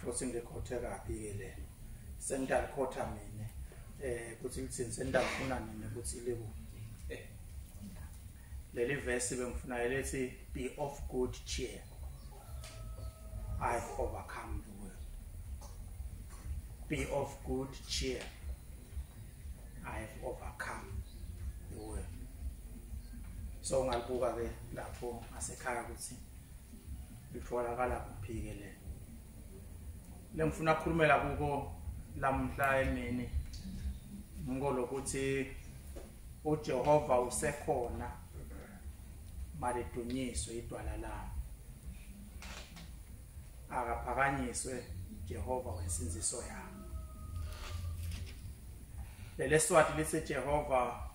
futhi ngikhothe kabi ke le sengidalikhotha mina eh kuthi ngithini sendalifuna mina ukuthi liku leli vesi bengifuna elethi be of good cheer i overcome the world be of good cheer i have overcome the world so ngalibuka ke lapho ngasekhaya ukuthi litholakala kuphi ke le lengifuna ukukhulumela kuko lamhla emini ngikolokuthi uJehova usekhona malidunyiswe idwala lami akaphakanyiswe Jehova wensinziso yami leleswati lithi Jehova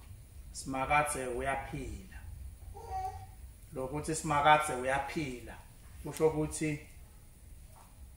simakathe uyaphila lokuthi simakathe uyaphila kusho ukuthi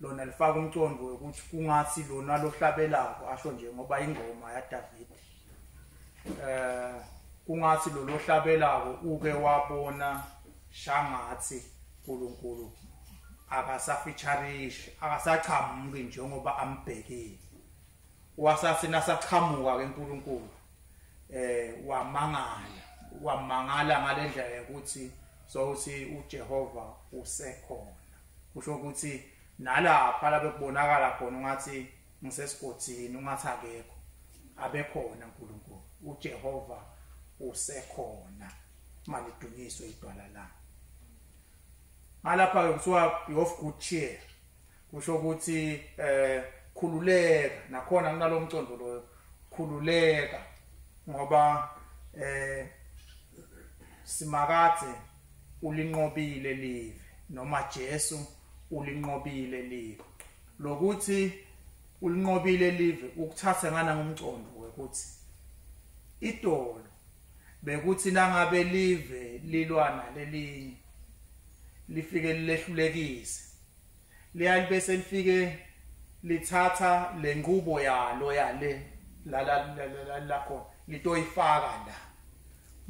lona lifaka umcondo wokuthi kungathi lona lohlabelako asho nje ngoba ingoma yaDavid eh kungathi lo lohlabelako uke wabona shangathi uNkulunkulu akasafeatureishi akasachamuki njengoba ambhekile wasathi nasachamuka ke uNkulunkulu eh wamangala wamangala ngalendlela yokuthi so uthi uJehova usekhona kusho ukuthi nalapha labe kubonakala khona ungathi ngisesigodini ungathi akekho abekhona uNkulunkulu uJehova usekhona malidunyiswe idwala la ngalapha ke kuthiwa of good cheer kusho ukuthi eh khululeka nakhona kunalomcondo loyo khululeka ngoba eh simakade ulinqobile live noma Jesu ulinqobile live lokuthi ulinqobile live ukuthatha ngana ngomcondo ukuthi idolo bekuthi nangabe live lilwana lelinye lifike lilehlulekise leyali bese lifike lithatha lenqubo yalo yale la la la la khona litoyifaka la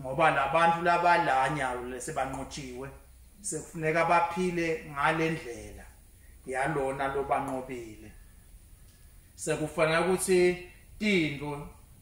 ngoba labantu labalanya lesebanqotshiwe sekufuneka baphile ngalendlela yalona lobanqobile sekufanele ukuthi tindlu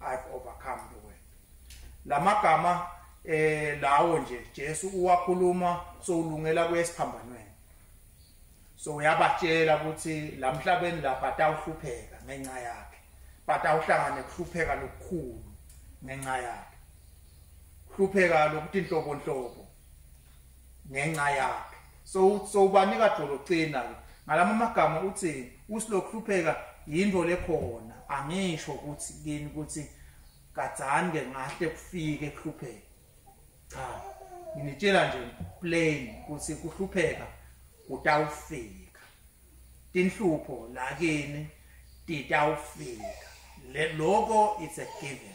I've overcome the world. Lamagama eh lawo nje Jesu uwakhuluma sowulungela kuyesiphambanweni. So uyabatshela ukuthi lamhlabeni lapha atawuhlupheka ngenxa yakhe. Batawuhlangana kuhlupheka lokukhulu ngenxa yakhe. Hlupheka lokuthi inhlobo inhlobo ngenxa yakhe so so ubanika dolocina ngalama magama uthi usilokhlupheka yinto lekhona angisho ukuthi kini ukuthi kadzani ke ngahle kufike kuhlupheka cha nginitshela nje plain ukuthi kuhlupheka kutawufika tinhlupho lakini titawufika lokho it's a given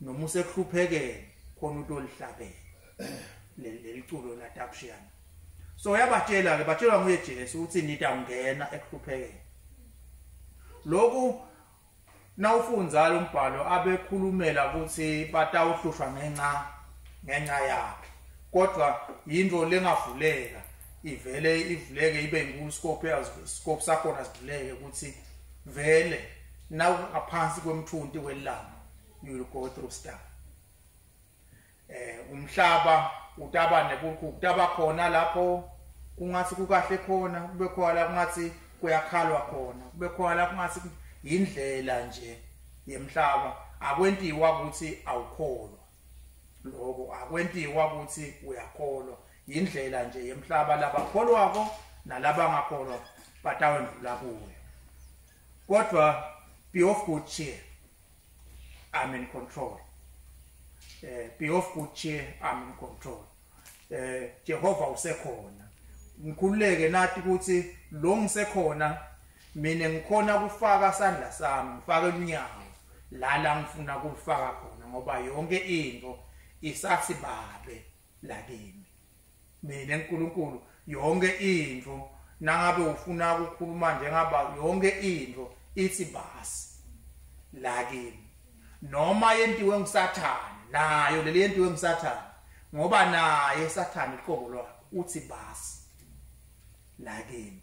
noma usekuhluphekeni khona utolihlabela leliculo la Tapshian so yabatshela ke batshelwa nguye Jesu ukuthi nita ungena ekuhluphekeni lokhu nawufunza lo mbhalo abekhulumela ukuthi batawuhlushwa ngenxa ngenxa yakhe kodwa yinto lengavuleka ivele ivuleke ibe inkulu scope scope sakhona sivuleke ukuthi vele nawu ngaphansi kwemthunti welanga you will go through stuff eh umhlaba utaba nekukhu kutaba khona lapho kungathi kukahle khona kube khona kungathi kuyakhalwa khona kube khona kungathi indlela nje yemhlaba akwentiwa ukuthi awukholwa lokho akwentiwa ukuthi uyakholwa indlela nje yemhlaba labakholwako nalabangakholwa batawendlula kuyo kodwa be of good cheer I'm in control. Uh, be of good cheer, I'm in control. Uh, eh, Jehova usekhona. Ngikhululeke nathi ukuthi lo ngisekhona mina ngikhona kufaka sandla sami, ngifake umnyango la la ngifuna kulifaka khona ngoba yonke into isathi babe lakini. mina uNkulunkulu yonke into nangabe ufuna ukukhuluma njengaba yonke into ithi basi la kimi noma yentiwe ngusathane nayo leli yentiwe ngusathane ngoba naye sathane iqobo lwakhe uthi basi la kimi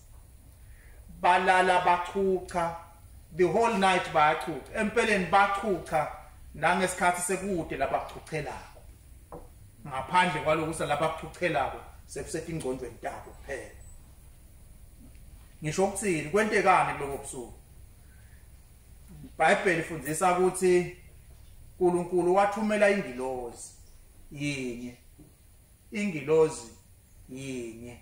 balala bachucha the whole night bayachucha empeleni bachucha nangesikhathi sekude lapha kuchuchelako ngaphandle kwaloku salapha kuchuchelako sekusethi ingcondo entabo kuphela ngisho ukuthini kwentekani kuloko busuku iBhayibheli ifundisa ukuthi uNkulunkulu wathumela ingilozi yinye ingilozi yinye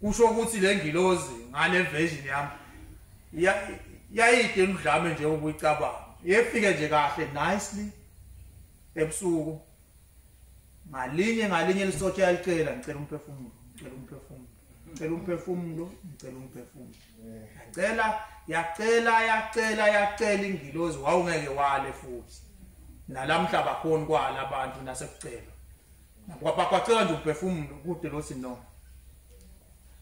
kusho ukuthi le ngilozi ngale version yami yayide emdlame nje ukuyicabanga yefike nje kahle nicely ebusuku ngalinye ngalinye lisothe yalicela ngicela umphefumulo ngicela umphefumulo ngicela umphefumulo ngicela umphefumulo yacela yacela yacela yacela ingilozi wawungeke wale futhi nalamhla bakhona kwala abantu nasekucela Kwabhaqwaceka nje uphefumulo kude lo sinono.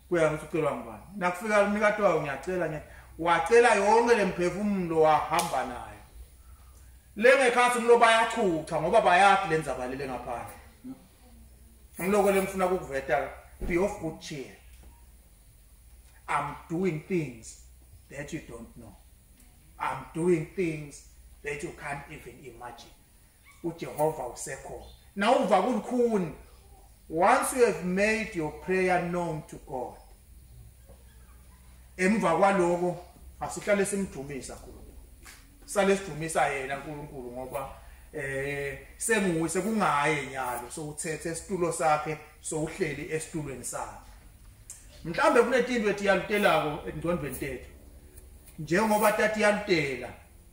Kuya ukuthi ucelwa ngubani. Nakufika umnikati wayo ngiyacela ngiyathi wacela yonke lemphefumulo wahamba nayo lengekhathi umlo bayachucha ngoba bayathi lenza balele ngaphandle ngiloko lengifuna ukuveta be of good cheer i'm doing things that you don't know i'm doing things that you can't even imagine uJehova usekhona now uva kulukhuni once you have made your prayer known to God emva kwaloko asihlale simdumisa kulo sale sidumisa yena uNkulunkulu ngoba eh senguwe sekungaye nyalo sowuthethe isitulo sakhe sowuhleli esitulweni sakhe mhlambe kunetinto ethi yalutelako endondweni tethu njengoba tati yalutela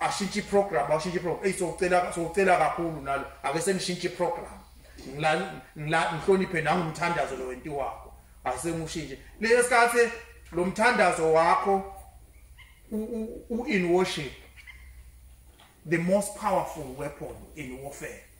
ashintshe iprogram ashintshe iprogram eyi socela socela kakhulu nalo ake senishintshe iprogram ngihloniphe nangumthandazo lo wenti wakho asengiwushintshe leyo sikhathi lo mthandazo wakho u-in worship the most powerful weapon in warfare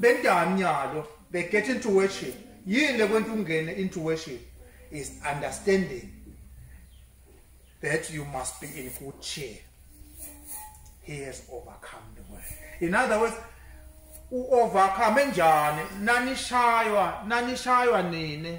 bendani nyalo they get into worship yini lekwenta ungene into worship is understanding that you must be in good cheer he has overcome the world in other words u-overcome njani nanishaywa nanishaywa nini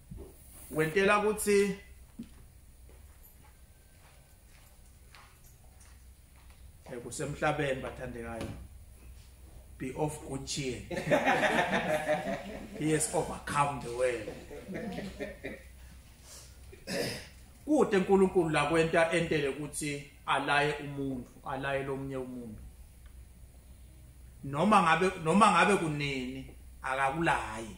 wentela ukuthi eh, kusemhlabeni bathandekayo be of good cheer he has overcome the world kude uNkulunkulu la kwenta entele ukuthi alaye umuntu alaye lomunye umuntu noma ngabe noma ngabe kunini akakulayi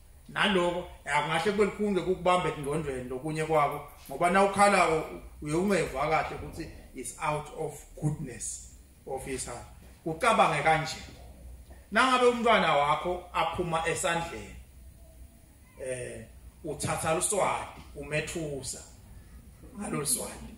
naloko angahle kube likhulu ngekukubamba engqondweni lokunye kwako ngoba na ukhalako uye ungeva kahle ukuthi is out of goodness of his heart ucabange kanje nangabe umntwana wakho aphuma esandleni eh uthatha luswadi umethusa ngalolu swadi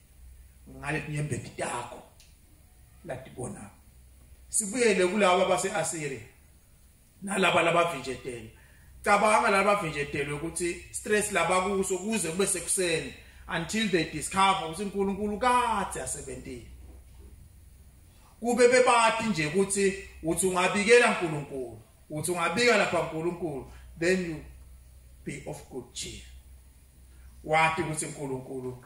ngalenyembeti takho latibona sibuyele kulaba base-asiriya nalaba labavinjetelwe cabanga labavinjetelwe ukuthi stress labakuso kuze kube sekuseni until they discover ukuthi uNkulunkulu kade asebentile kube bebati nje ukuthi uthi ungabikela uNkulunkulu uthi ungabika lapha uNkulunkulu then you be of good cheer wati ukuthi uNkulunkulu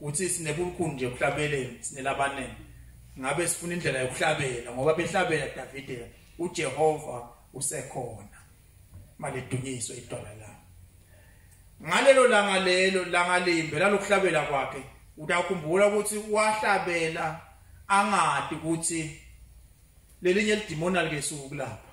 uthi sinebulukhuni nje ekuhlabeleni sinelabanene ngabe sifuna indlela yokuhlabela ngoba behlabela Davide uJehova usekhona malidunyiswe idwala la ngalelo langa lelo langa limbe lalokuhlabela kwakhe utakhumbula ukuthi wahlabela angadi ukuthi lelinye lidimona likesuku lapha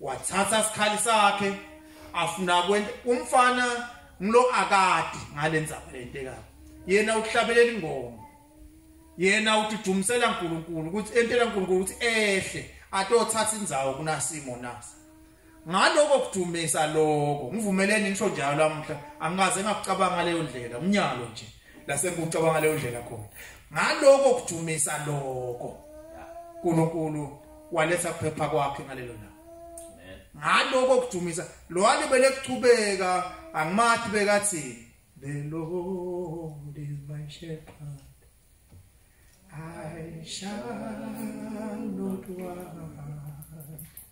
wathatha sikhali sakhe afuna kwenta umfana ngilo akade ngalenzaba lentekayo yena uhlabelela ingoma yena ududumisela uNkulunkulu ukuthi entela uNkulunkulu ukuthi ehle atothatha indzawo kunasimo nasi ngaloko kudumisa lokho ngivumelene ngisho njalo amhla angikaze ngakucabanga leyo ndlela umnyalo nje lasebuca bangaleyo ndlela khona ngaloko kujumisa lokho uNkulunkulu waletha kuphepha kwakhe ngalelo langa ngaloko kujumisa lo alibele kuchubeka angimathi bekathi the lord is my shepherd i shall not want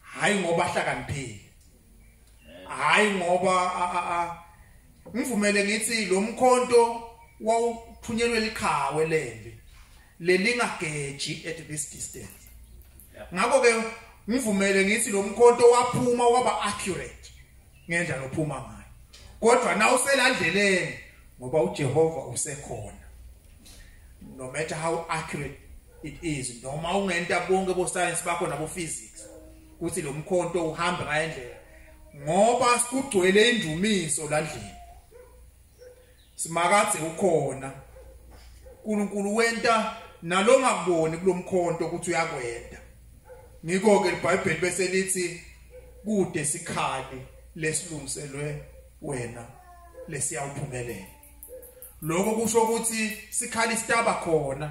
hayi ngoba ahlakaniphile hayi ngoba ngivumele ngithi lo mkhonto wawuthunyelwe likhawe lembi lelingageji at this distance ngakho ke ngivumele ngithi lo mkhonto waphuma waba accurate ngendlela ophuma ngayo kodwa na uselandleleni ngoba uJehova usekhona no matter how accurate it is noma ungenta bonke bo science bakho nabo physics ukuthi lo mkhonto uhamba ngayendlela ngoba sikugcwele indumiso landlini simakadze ukhona uNkulunkulu wenta nalongakuboni kulomkhonto ukuthi uyakwenda ngikho ke iBhayibheli bese lithi kude sikhali lesilungiselwe wena lesiyawuphumelela lokho kusho ukuthi sikhali sitaba khona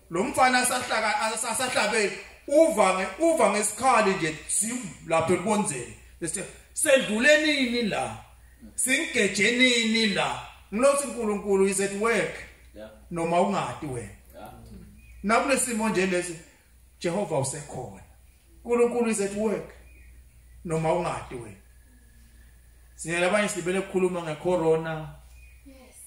lo mfana asahlaka asahlabe uva nge uva ngesikhali nje sim lapho ekonzeni bese sedlule nini la singeje nini la ngilothi uNkulunkulu is at work noma ungadi wena nakulesimo nje lesi Jehova usekhona uNkulunkulu is at work noma ungadi wena siyela abanye sibele ukukhuluma ngecorona yes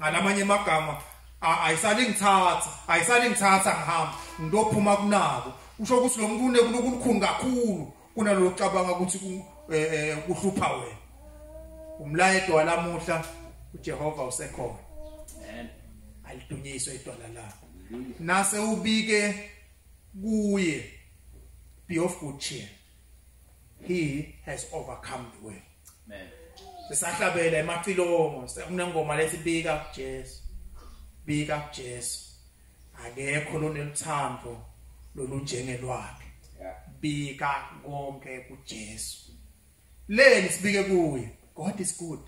ngalamanye amagama ayisale ngithatha ayisale ngithatha ngihamba ngilophuma kunako kusho ukuthi lo muntu unekulukhulu kakhulu kunalolu cabanga ukuthi eh, eh, kuhlupha wena umlayedo walamuhla uJehova usekhona amen alidunyiswe idwala lakho nase ubike kuye be of good cheer he has overcome the world amen sisahlabela emacilongo sekunengoma lesibika kuJesu bika kuJesu akekho loneluthando lolunjengelwakhe bika konke kuJesu leni sibike kuye God is good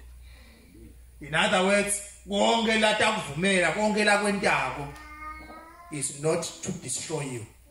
in other words konke latakuvumela konke lakwentako is not to destroy you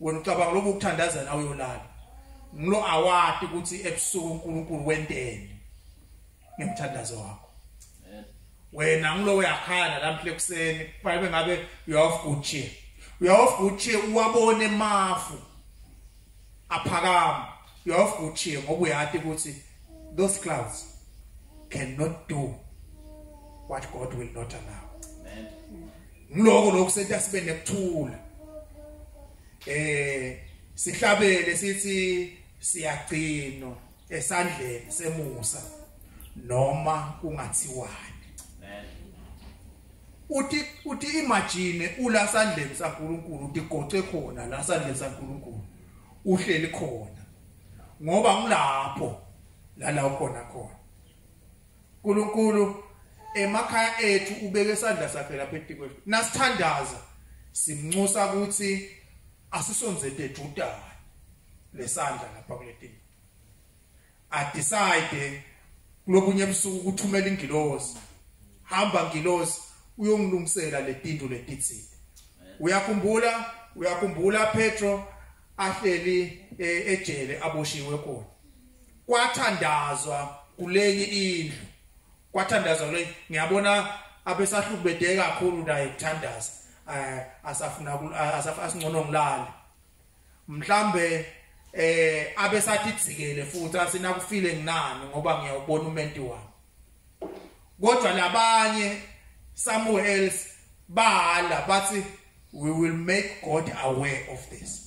wena ucabanga lobu ukuthandaza nawe uyolala ngilo awati ukuthi ebusuku uNkulunkulu wenteni ngemthandazo wakho wena ngilo uyakhala lamhle kuseni kufanele ngabe you have good cheer you have good cheer uwabone mafu aphakama you have good cheer ngoba uyati ukuthi those clouds cannot do what God will not allow ngiloko lokho senza sibe nekuthula eh sihlabele sithi siyagcino esandleni semusa noma kungathiwani uthi uthi imagine ula sandleni saNkuluNkulu utigoce khona la sandleni saNkuluNkulu uhleli khona ngoba ngilapho lala ukhona khona Nkulunkulu emakhaya ethu ubeke isandla sakhe lapha etikwethu nasithandaza simnxusa ukuthi asisonze dedudana lesandla lapha kuletini a decide kulobunye ebusuku ukuthumela ingilosi hamba ngilosi uyongilungisela letinto letitsile uyakhumbula uyakhumbula Petro ahleli eh, ejele aboshiwe khona kwathandazwa kulenye indlu kwathandazwa kulenye ngiyabona abesahlubedeke kakhulu naye kuthandaza eh asafuna asafasingcono ngilale mhlambe eh abesathi dzikele futhi asina kufile nginani ngoba ngiyawubona umenti wami kodwa labanye somewhere else bahala bathi we will make god aware of this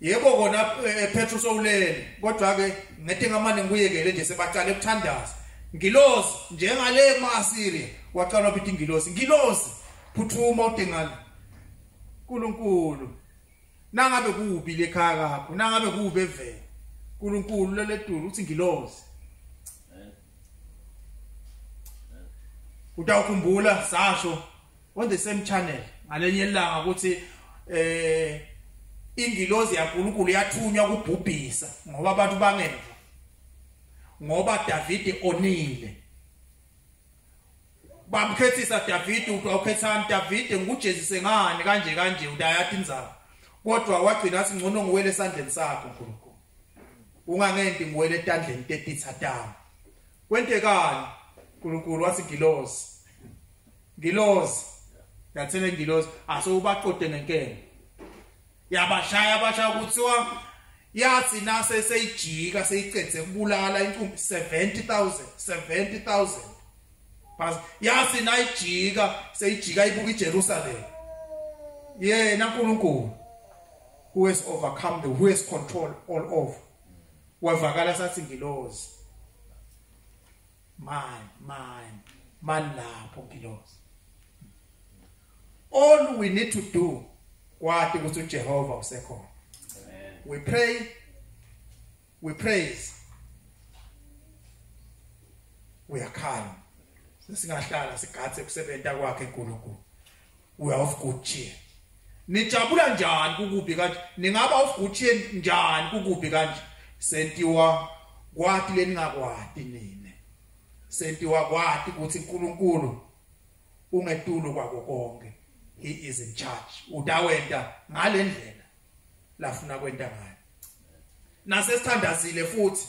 yebo kona eh, ephetha usowulele kodwa ke ngete ngamane ngikuyekele nje sebaqala ukuthandaza ngilozi njengale maasiri waqala ukuthi ngilozi ngilozi phuthuma udengane uNkulunkulu nangabe kubi lekhaya kakho nangabe kubi evela uNkulunkulu leledulu uthi ngilozi utawukhumbula sasho on the same channel ngalenye ilanga ukuthi eh ingilozi yaNkulunkulu yathunywa kubhubhisa ngoba abantu bangemva ngoba Davide onile bamkhethisa Davide uthi awukhethani Davide ngujezise ngani kanje kanje udayathi inzaba kodwa wagcina athi ngcono ngiwele esandleni sakho Nkulunkulu ungangenti ngiwele etandleni tetitha tami kwentekani Nkulunkulu wathi ngilozi ngilozi yathele ngilozi ase ubaqode ngenkene yabashaya abashaya kuthiwa yathi nase seyijika seyicede kubulala inkumbi 70000 70000 bas yathi nayijika seyijika ibuka iJerusalem yena uNkulunkulu who has overcome the who has control all over wavakala sathi ngilozi my my malapho ngilosi all we need to do kwati ukuthi uJehova usekhona we pray we praise we are calm sesingahlala sigathe kusebenza kwakhe uNkulunkulu we are of good cheer nijabula njani kukubi kanje ningaba of good cheer njani kukubi kanje sentiwa kwati leningakwati nina sentiwa kwati ukuthi uNkulunkulu ungetulo kwako konke he is in charge utawenta ngalendlela lafuna kwenta ngayo nasesithandazile futhi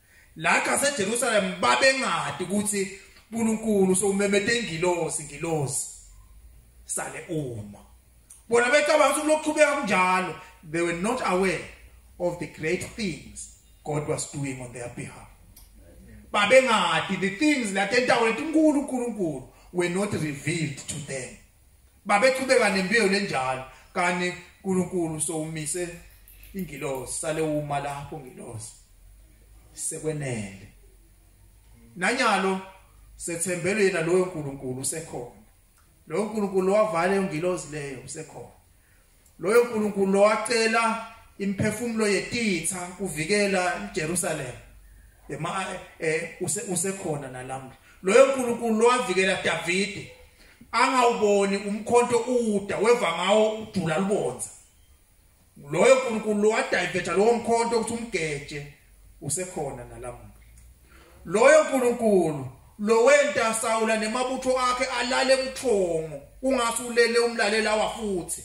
La kaseJerusalem babengadi ukuthi uNkulunkulu sowumemete ingilosi ngilosi sale uma bona becabanga ukuthi lokuqhubeka kunjalo they were not aware of the great things God was doing on their behalf babengadi the things that entawule uNkulunkulu were not revealed to them babechubeka nembewu lenjalo kanti uNkulunkulu sowumise ingilosi sale uma lapho ngilosi sekwenele nanyalo sethembele yena loyo uNkulunkulu usekhona loyo uNkulunkulu wavala ingilosi leyo usekhona Loyo Nkulunkulu lowacela imphefumulo yetitha kuvikela iJerusalem ema eh usekhona nalamhla loyo nkulunkulu lowavikela Davide angawuboni umkhonto uda weva ngawo ujula lubonza loyo nkulunkulu lowadiveta lowo mkhonto ukuthi umgeje usekhona nalamhla Loyo Nkulunkulu lowenta Sawula nemabutho akhe alale buthongo ungase ulele umlalela wafuthi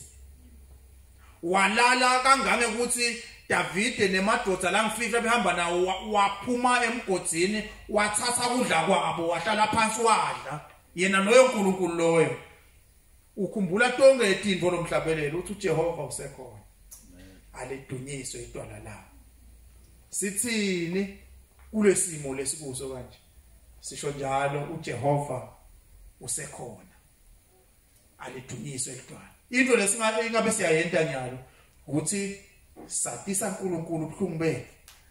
walala kangange ukuthi Davide nemadoda langifihla behamba nawo waphuma emgodini wathatha kudla kwabo wahlala phansi wadla yena loyo uNkulunkulu loyo ukhumbula tonke itinto lomhlabelelo uthi uJehova usekhona alidunyiswe itwala lawo sithini kulesimo lesikuso kanje sisho njalo uJehova usekhona alidunyiswe itwala into lesingabe ingabe siyayenta nyalo ukuthi satisa uNkulunkulu ubuhlungu bethu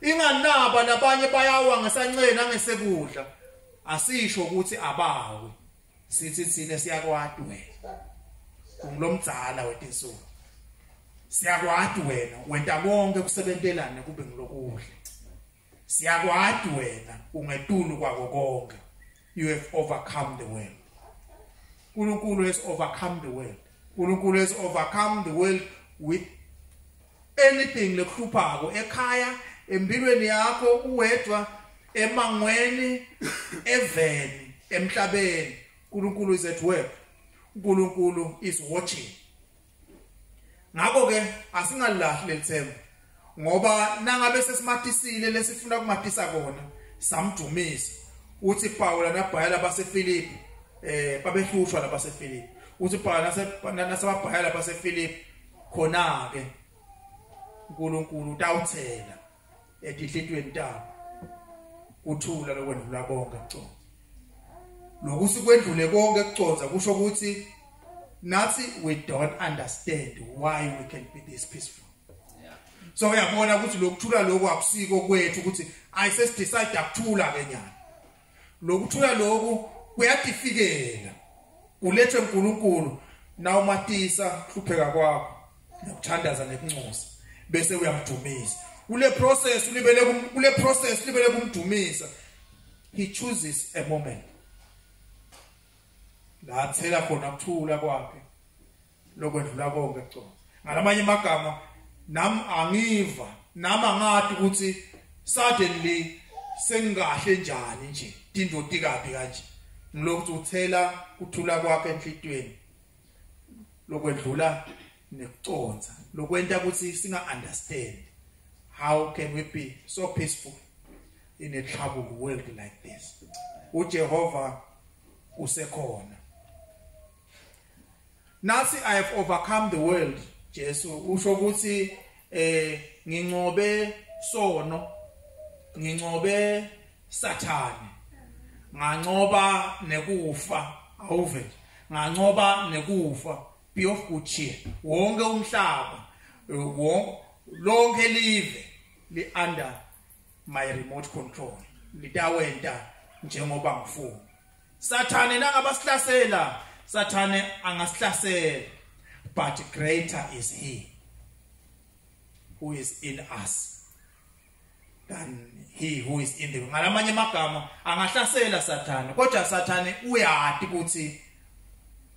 inganaba nabanye bayawa ngesanceni angesekudla asisho ukuthi abawe sithi thina siyakwati wena ungilomdzala wetinsuku siyakwati wena wenta konke kusebentelane kube ngilokudla siyakwati wena ungetulu kwako konke you have overcome the world uNkulunkulu has overcome the world uNkulunkulu has overcome the world with anything lekuhluphako ekhaya empilweni yakho uwedwa emangweni eveni emhlabeni uNkulunkulu is at work uNkulunkulu is watching ngakho ke asingalahli lelithemba ngoba nangabe sesimatisile lesifuna kumatisa kona samdumisa uthi Pawula nabhayela baseFilipi eh babehlushwa labaseFilipi uthi Pawula nasebabhayela baseFilipi khona ke uNkulunkulu utawuthela etihlitweni tabo kuthula lokwendlula konke kuconza lokuthi kwendlule konke kuconza kusho ukuthi nathi we don't understand why we can be this peaceful so uyabona ukuthi lokuthula lokho akusiko kwethu ukuthi ayise decide akuthula ke nyana lokuthula lokhu kuyatifikela kulethwe uNkulunkulu na umatisa hlupheka kwakho nokuthandaza nekuncosa bese uyamdumisa kule process ulibele kule process ulibele kumdumisa he chooses a moment la athela khona ukuthula kwakhe lokwedlula konke kuconsa ngalamanye amagama nam angiva nami angadi ukuthi suddenly sengingahle njani nje tindoti kabi kanje ngilokhu uthela kuthula kwakhe enhlitweni lokwedlula nekuconsa lokwenta ukuthi singa understand how can we be so peaceful in a troubled world like this uJehova usekhona Nasi I have overcome the world Jesu usho ukuthi eh ngincobe sono ngincobe sathane ngancoba nekufa awuve ngancoba nekufa be of good cheer wonke umhlaba wonke lonke live li under my remote control litawenta njengoba ngifuna Sathane nangabasihlasela Sathane angasihlasela but greater is he who is in us than he who is in the ngalamanye amagama angahlasela sathane kodwa sathane uyati ukuthi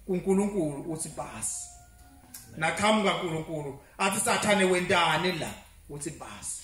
uNkulunkulu uthi basi naqhamuka uNkulunkulu athi sathane wentani la uthi basi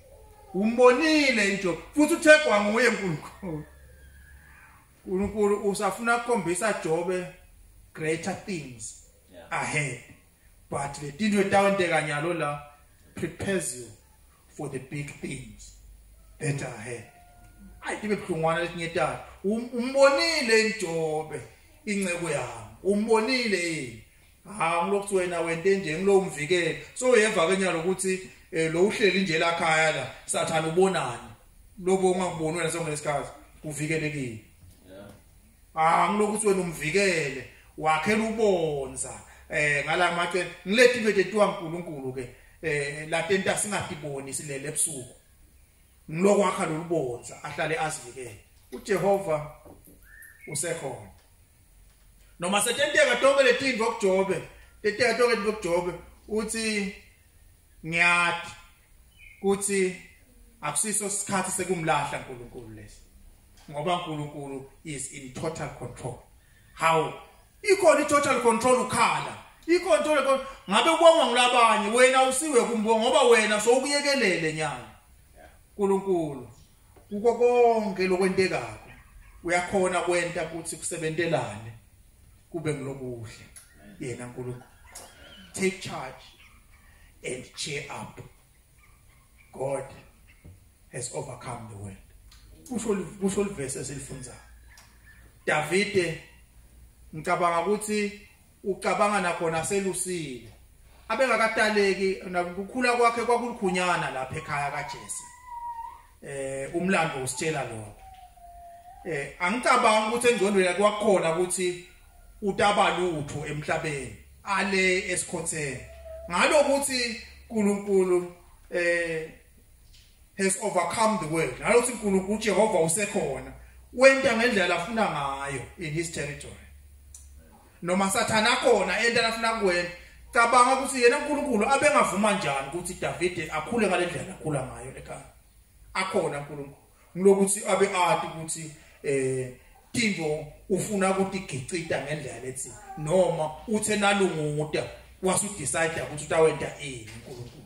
umbonile into futhi uthegwa nguye uNkulunkulu uNkulunkulu usafuna ukukhombisa Jobe greater things yeah. ahead but le tinto etawenteka nyalo la prepares you for the big things that are ahead ayi tibe buhlungwana letinye talo um-, umbonile injobe incebo yami umbonile yini ha ngilokuthi wena wente nje ngilowo mvikeli so uyeva ke nyalo ukuthi eh, lo uhleli nje la khaya la sathana ubonani lobo ungakuboni wena sonke lesikhathi uvikelekile ah ngilokuthi wena umvikele wakhela ubonza eh ngala mathe ngilethi into ethiwa uNkulunkulu ke eh la tenta singatiboni silele ebusuku ngilokwakha lolubonza ahlale azivikele uJehova usekhona noma setenteka tonke letintfo kujobe teteka tonke tintfo kujobe uthi ngiyati kuthi akusiso isikhathi sekumlahla uNkulunkulu lesi ngoba uNkulunkulu is in total control how ikhona i-total control ukhala ikhona total control ngabe ubongwa ngilabanye wena usiwe kumbonga ngoba wena sowukuyekelele nyanga uNkulunkulu kuko konke lokwentekayo uyakhona kwenta ukuthi kusebentelane kube ngilokuhle yena uNkulunkulu take charge and cheer up god has overcome the world kusho kusho livese esilifunzayo davide ngicabanga ukuthi ucabanga nakhona aselusile abengakataleki nakukhula kwakhe kwakulikhunyana lapha ekhaya kaJesu eh umlando usitshela lokho eh angicabanga ukuthi engcondweni yakhe wakhona ukuthi utaba lutho emhlabeni ale esikhotheni ngalokuthi uNkulunkulu eh has overcome the world nalothi uNkulunkulu uJehova usekhona wenta ngendlela afuna ngayo in his territory noma sathana khona enta afuna kuwena cabanga ukuthi yena uNkulunkulu abengavuma njani ukuthi David akhule ngalendlela akhula ngayo ekhaya akhona uNkulunkulu ngilokuthi abe ati ukuthi eh Timo ufuna ukuthi igicita ngendlela lethi noma uthe nalunguda wasu decide ukuthi utawenta ini uNkulunkulu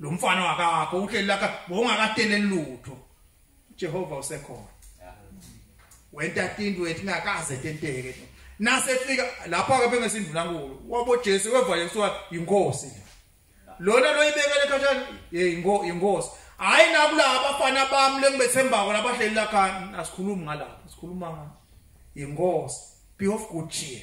lo mfana wakakho uhleli lakha bowungakateleli lutho Jehova usekhona wenta tinto wethu ngakaze tenteke nasefika lapha ke bengesindvulankulu wabo Jesu wevale kuthiwa inkosi lona loyibekele ekhatshana hey inkosi hayi nakulaba bafana bami lengibethembako labahleli lakha asikhulumi ngalapha sikhuluma inkosi be of good cheer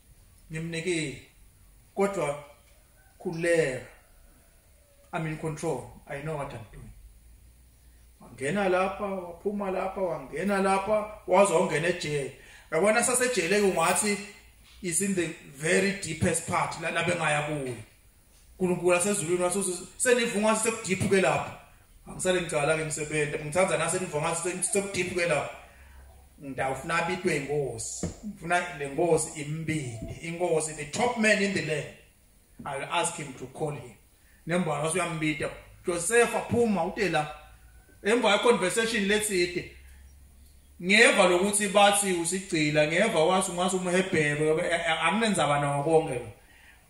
ngimnikile kodwa khuleka i'm in control i know what i'm doing wangena lapha waphuma lapha wangena lapha waze wangena ejele yabona sasejele kungathi is in the very deepest part la bengaya kuyo uNkulunkulu asezulwini wathi senivunga ukuthi sekudiphu ke lapho angisale ngicala ke ngisebenza ngithanda nase nivunga ukuthi sekudiphu ke lapho ngidawufuna abitwe inkosi ngifuna le nkosi imbindi inkosi the top man in the land i will ask him to call him nembona wase uyambida Joseph aphuma utela emva ye conversation letside ngeva lokuthi bathi usigcila ngeva wathi ungathi umhebhebe anginenzaba nawo konke lo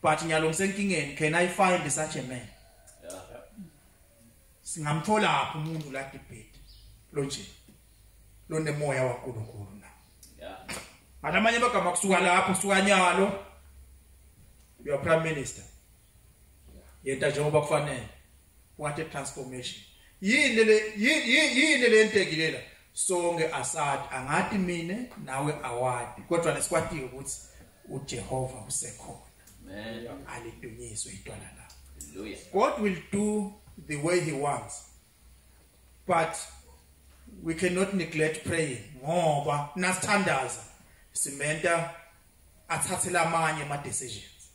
but ngiyalo ngisenkingeni can i find such a man singamthola apho umuntu la debate lo nje lo nemoya waNkulunkulu na yeah amanye amagama kusuka lapho kusuka nyalo your prime minister yenta njengoba kufanele what a transformation yini le yini le ntekilela sonke asad angathi mina nawe awadi kodwa nesikwatile ukuthi uJehova usekhona amen alidunyiswe itwala la hallelujah god will do the way he wants but we cannot neglect praying ngoba nasithandaza simenta athathele amanye ama decisions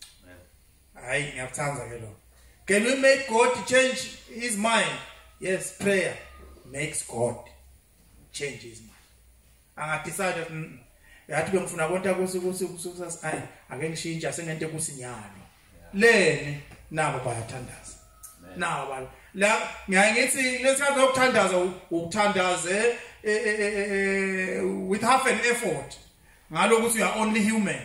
hayi ngiyakuthanda ke lo can we make god change his mind yes prayer makes god change his mind angadecide mm, yathi bengifuna konta kusi kusi kusukusasa ayi ake ngishintshe asengente kusinyalo leni nabo bayathandaza nabo bala la ngiyaye ngithi lesikhathi sokuthandaza ukuthandaze eh, eh, eh, with half an effort ngalokho ukuthi you are only human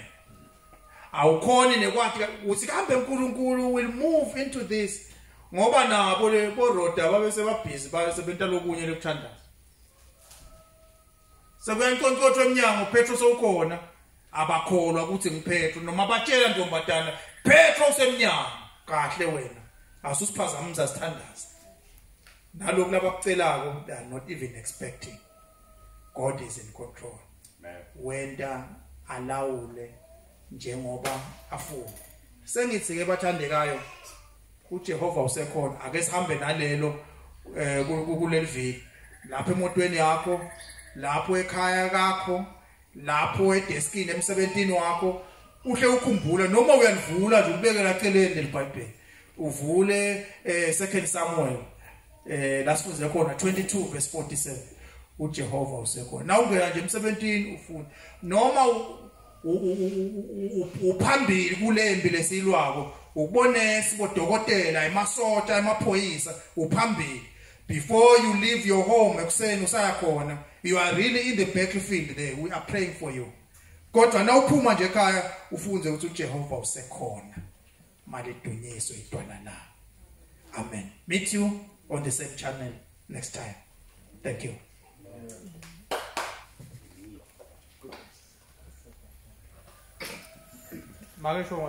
awukhoni nekwathi ukuthi kambe uNkulunkulu will move into this ngoba nabo le boroda babe sebabhizi babe sebenta lokunye lokuthandaza sekuyankonkothwa eminyango Petro sowukhona abakholwa ukuthi ngiphetro noma batshela ntombadana Petro usemnyango kahle wena asusiphazamisa sithandaza nalokho labakucelako they are not even expecting God is in control wenda alawule njengoba afuna sengithi ke bathandekayo uJehova usekhona ake sihambe nalelo eh, kuleliviki lapho emotweni yakho lapho ekhaya lakho lapho edeskini emsebenzini wakho uhle ukhumbula noma uyalivula nje ubekela celeni lelibhayibheli uvule eh second Samuel eh la sifunde khona 22 verse 47 uJehova usekhona na ungena nje emsebentini ufuna noma uphambili kulembi lesilwako ukubonesa bodokotela emasosha emaphoyisa uphambili before you leave your home ekuseni usaya khona you are really in the battlefield there we are praying for you kodwa na uphuma nje ekhaya ufunze ukuthi uJehova usekhona malidunyiswe idwala la amen meet you on the same channel next time thank you Magari